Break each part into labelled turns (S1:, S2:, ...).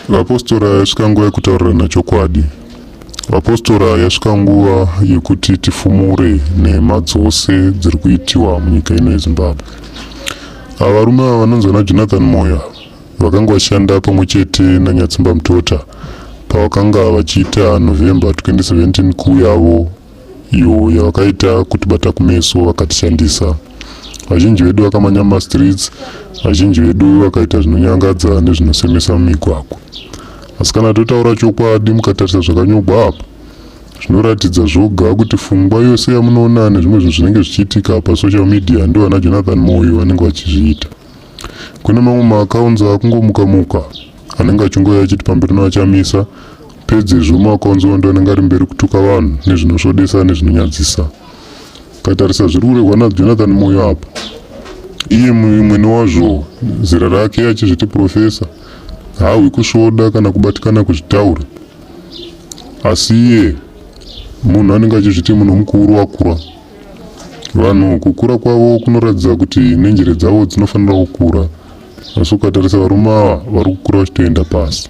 S1: Vapostora yasvika nguva yekutaurirana chokwadi. Vapostora yasvika nguva yekuti tifumure nhema dzose dziri kuitiwa munyika ino yezimbabwe ava varume ava vanonzi vana jonathan moya vakanga vashanda pamwe chete nanyatsimba mutota pavakanga vachiita november 2017 kuuyavo iyo yavakaita kutibata kumeso vakatishandisa vazhinji vedu vakamanya mumastreets vazhinji vedu vakaita zvinonyangadza nezvinosemesa mumigwagwa asi kana totaura chokwadi mukatarisa zvakanyogwa apa zvinoratidza zvoga kuti fungwa yose yamunoona nezvimwe zvinhu zvinenge zvichiitika pasocial media ndovana jonathan moyo vanenge vachizviita kune mamwe maakaunzi akungomuka muka anenge achingouya achiti pamberi noachamisa pedzezvo maakaunzi wando anenge ari mberi kutuka vanhu nezvinosvodesa nezvinonyadzisa katarisa zviri kuregwa najonathan moyo apa iye mwene wazvo zera rake achizviti profesa haahwi kusvoda kana kubatikana kuzvitaura asi iye munhu anenge achizviti munhu mukuru wakura Vanhu kukura kwavo kunoratidza kuti nenjere dzavo dzinofanira kukura. Asi ukatarisa varume ava vari kukura vachitoenda pasi.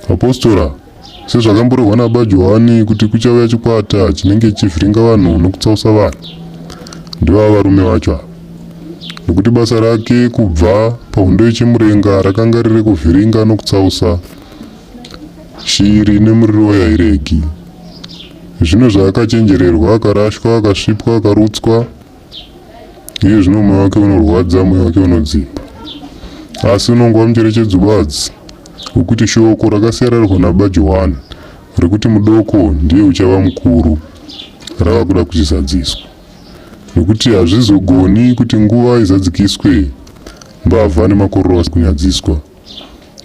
S1: Vapostora, sezvakamborehwa naBaba Johani kuti kuchauya chikwata chinenge chichivhiringa vanhu nokutsausa vanhu, ndivava varume vacho ava. Nokuti basa rake kubva pahondo yechimurenga rakanga riri kuvhiringa nokutsausa Shiri ine muriro yairegi. Zvino zvaakachenjererwa akarashwa akasvipwa akarutswa iye zvino moyo wake unorwadza moyo wake unodzimba asi unongova mucherechedzo badzi wekuti shoko rakasiyararwa nababa johani rekuti mudoko ndiye uchava mukuru rava kuda kuchizadziswa nekuti hazvizogoni kuti nguva izadzikiswe mbavha nemakororo asi kunyadziswa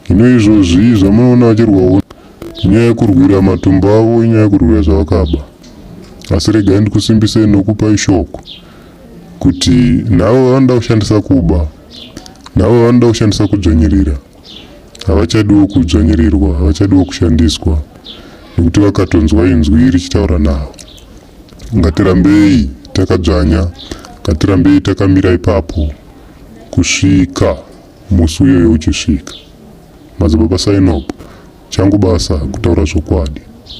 S1: Hino izvozvi zvamunoona vachirwawo nyaya yekurwira matumbu avo inyaya yekurwira zvavakaba. Asi regai ndikusimbisei nokupai shoko kuti navo vanoda kushandisa kuba, navo vanoda kushandisa kudzvanyirira, havachadiwo kudzvanyirirwa, havachadiwo kushandiswa nekuti vakatonzwa inzwi richitaura navo. Ngatirambei takadzvanya, ngatirambei takamira ipapo kusvika Musi uyoyo uchisvika, Madzibaba Sainob, changu basa kutaura zvokwadi.